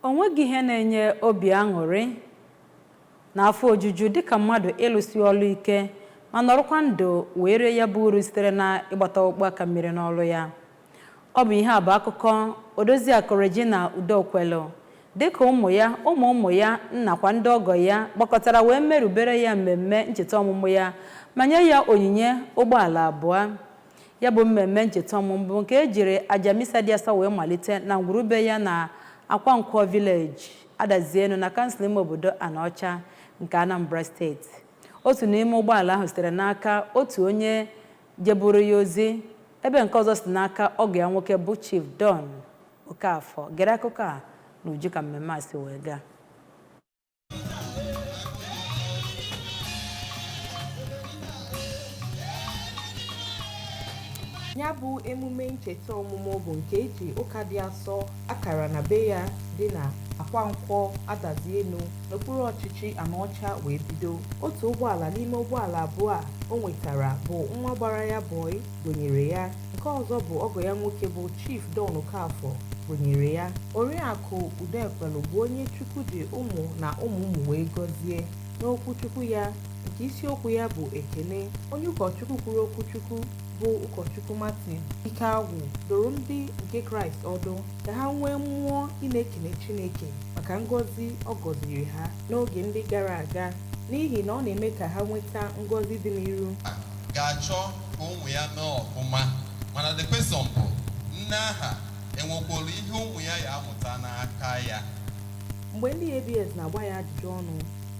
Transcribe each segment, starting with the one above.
O nweghị ihe na-enye obi aṅụrị na afọ ojuju dị ka mmadụ ịlụsi ọlụ ike ma nọrọkwa ndụ wee rie ya bụ uru sitere na ịgbata ọkpụkpụ aka mmiri n'ọlụ ya. Ọ bụ ihe a bụ akụkọ Odoziakụ Regina Udokwelu dị ka ụmụ ya, ụmụ ụmụ ya nakwa ndị ọgọ ya gbakọtara wee merubere ya mmemme ncheta ọmụmụ ya ma nye ya onyinye ụgbọala abụọ. Ya bụ mmemme ncheta ọmụmụ bụ nke e jiri aja misa dị asọ wee malite na ngwurube ya na Akwankwọ vileji Adazienu na kansụl ime obodo Anaọcha nke Anambra steeti otu n'ime ụgbọala ahụ sitere n'aka otu onye jeburu ya ozi ebe nke ọzọ si n'aka ọgọ ya nwoke bụ Chief Don Okafọ gere akụkọ a n'uju ka mmemme a si wee gaa ya bụ emume ncheta ọmụmụ bụ nke eji ụka dị asọ a kara na be ya dị na akwankwọ adazienu n'okpuru ọchịchị anaọcha wee bido otu ụgbọala n'ime ụgbọala abụọ a o nwetara bụ nwa gbara ya bọị gonyere ya Nke ọzọ bụ ọgọ ya nwoke bụ Chief Don Okafọ gonyere ya. Oriakụ Udekwelu bụ onye Chukwu ji ụmụ na ụmụ ụmụ wee gọzie. N'okwu Chukwu ya, nke isiokwu ya bụ Ekene, onye ụkọchukwu kwuru okwu Chukwu bụ ụkọchukwu Martin Ikeagwụ dụrụ ndị nke Kraịst ọdụ ka ha nwee mmụọ ị na-ekene Chineke maka ngọzi ọ gọziri ha n'oge ndị gara aga n'ihi na ọ na-eme ka ha nweta ngọzi dị n'iru. ga-achọ ka ụmụ ya mee ọfụma mana the question bụ nne aha enwekwara ihe ụmụ ya ya-amụta n'aka ya mgbe ndị abs na-agba ya ajụjụ ọnụ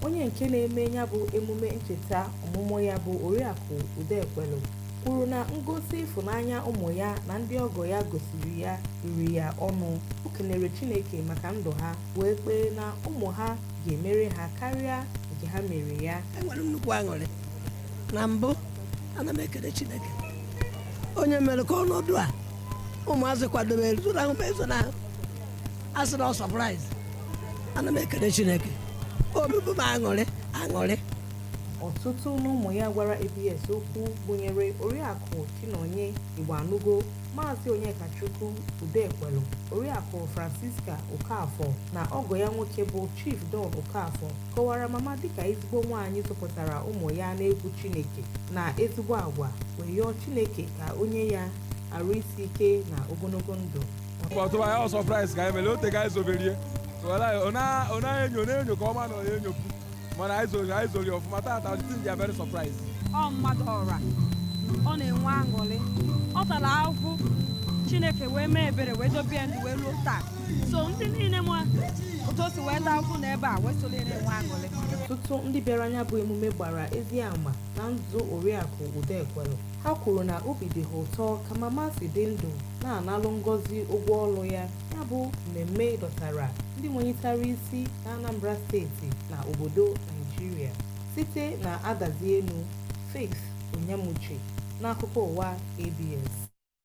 onye nke na-eme ya bụ emume ncheta ọmụmụ ya bụ oriakụ udekwelu kwuru na ngosi ịfụnanya ụmụ ya na ndị ọgọ ya gosiri ya riri ya ọnụ o kenere chineke maka ndụ ha wee kpee na ụmụ ha ga-emere ha karịa nke ha mere ya enwere m nnukwu aṅụrị na mbụ ana m ekene chineke onye mere ka ọnọdụ a ụmụazị kwadobere zonahụ m ezonahụ a sị na ọ surprise ana m ekene chineke obi bụ m aṅụrị aṅụrị ọtụtụ n'ụmụ ya gwara abs okwu gụnyere oriakụ chinonye igboanugo maazị onyekachukwu udekwelu oriakụ francisca okafọ na ọgọ ya nwoke bụ chief don okafọ kọwara mama dịka ezigbo nwaanyị zụpụtara ụmụ ya n'egwu Chineke na ezigbo agwa wee yọọ Chineke ka o nye ya arụ isi ike na ogologo ndụ. ọtụba ya ọ surprise ka anyị mere ote ka anyị zoberie ọ naghị enyo na-enyo ka ọma na ọ enyo mana anyị zori anyị zori ọfụma tata ndị ndị very surprised ọ mmadụ ọra ọ na-enwe aṅụrị ọ tara ahụhụ chineke wee mee ebere wee dobe ya ndụ wee ruo taa so ndị niile ma otu o si wee taa ahụhụ n'ebe a wee soro na-enwe aṅụrị ọtụtụ ndị bịara na ya bụ emume gbara ezi ama na ndụ oriakụ udokwelu ha kwuru na obi dị ha ụtọ ka mama si dị ndụ na-analụ ngọzi ụgwọ ọlụ ya ya bụ mmemme dọtara ndị nwenyitara isi na anambra steeti na obodo naijiria site na adazi enu faith onyemuche n'akụkọ ụwa abs